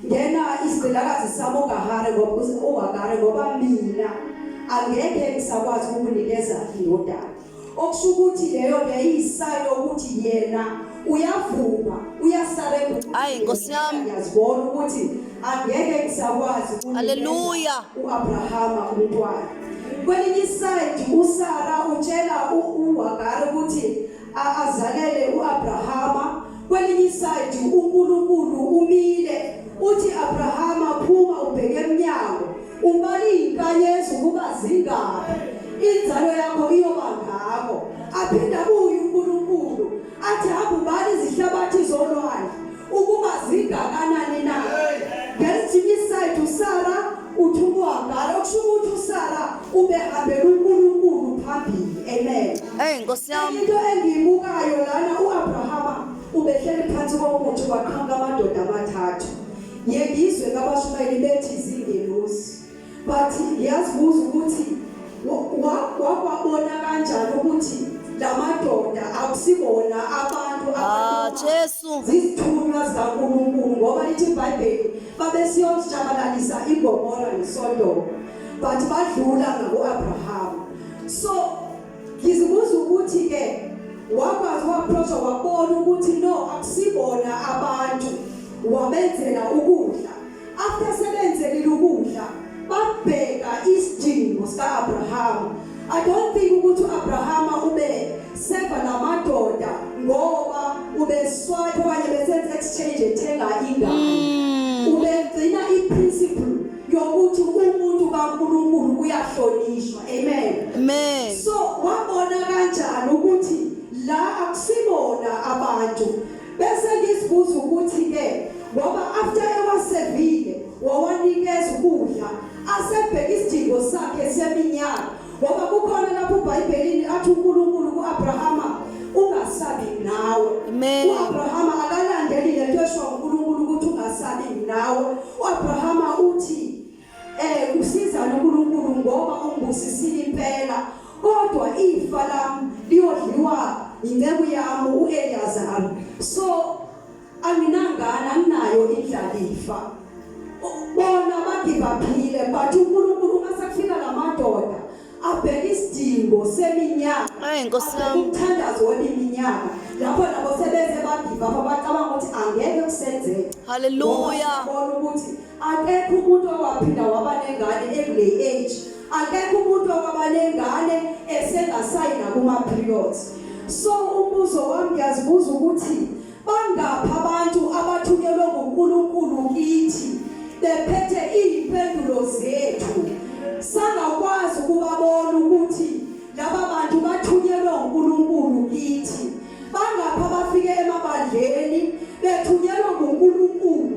ngena isigqilakazi sami ugahare ngoba ugahare ngoba mina angeke ngisakwazi ukunikeza indodana okusho ukuthi leyo beyisayo ukuthi yena uyavuma uyasarenda hayi nkosi yami yazibona ukuthi angeke ngisakwazi haleluya uabrahama umntwana kwelinye isayidi usara utshela uwagari ukuthi azalele uAbrahama kwelinye isayidi uNkulunkulu umile uthi Abrahama phuma ubheke emnyango ubala izinkanyezi ukuba zingaphi inzalo yakho iyoba ngako aphinda kuyo uNkulunkulu athi hamba ubala izihlabathi zolwandle ukuba zingakanani na ngesinye isayidi usara uthi ukuhambala okusho ukuthi usara ubehambela unkulunkulu phambili amen eyi nkosi yami into engiyibukayo lana u-abrahama ubehleli phansi komuthi kwaqhamuka amadoda amathathu yengizwe kabashumayeli bethi zingelosi but ngiyazibuza ukuthi wakwabona kanjani ukuthi lamadoda akusibona abantu ah, Jesu zithunywa zikaNkulunkulu ngoba lithi iBhayibheli babesiyojabalalisa iGomora neSodoma but badlula ngakuAbraham so ngizibuza ukuthi ke wakwazi waapproach wabona ukuthi no akusibona abantu wabenzela ukudla After sebenzelile ukudla babheka isidingo sika-Abrahama. I don't think ukuthi u-Abrahama ube seva namadoda ngoba ubeswipe okanye besenza exchange ethenga ingane. Hmm. Ubegcina i-principle yokuthi umuntu kaNkulunkulu uyahlonishwa. Amen. Amen. So wabona kanjani ukuthi la akusibona abantu Bese ngisibuza ukuthi ke ngoba after ewasevile wawanikeza ukudla asebheka isidingo sakhe seminyaka ngoba kukhona lapho uBhayibhelini athi uNkulunkulu kuAbrahama ungasabi nawe. Amen. UAbrahama akalandeli lento esho uNkulunkulu ukuthi ungasabi nawe. UAbrahama uthi Eh usiza noNkulunkulu ngoba ungibusisile impela kodwa ifa lami liyodliwa inceku yami uEliyazari so anginangana anginayo indlalifa bona bagibaphile but uNkulunkulu uma sekufika lamadoda abheke isidingo seminyaka ayi nkosi yami umthandazo weminyaka lapho nabo sebeze bagiva abacabanga ukuthi angeke kusenzeke haleluya bona ukuthi akekho umuntu owaphinda waba nengane ekule age akekho umuntu owaba nengane esengasayi nakuma periods so umbuzo wami ngiyazibuza ukuthi bangaphi abantu abathukelwe nguNkulunkulu kithi bephethe izimpendulo zethu sangakwazi ukubabona ukuthi laba bantu bathunyelwe uNkulunkulu kithi bangapha bafike emabandleni bethunyelwe uNkulunkulu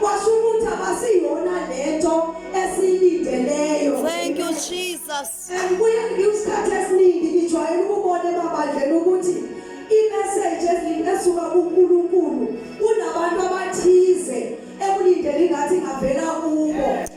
Kwasho ukuthi abasiyona lento esiyilindeleyo. Thank you Jesus. And kuye ngisikhathi esiningi ngijwayele ukubona emabandleni ukuthi i-message esuka kuNkulunkulu unabantu abathize ekulindele ingathi ingavela kubo.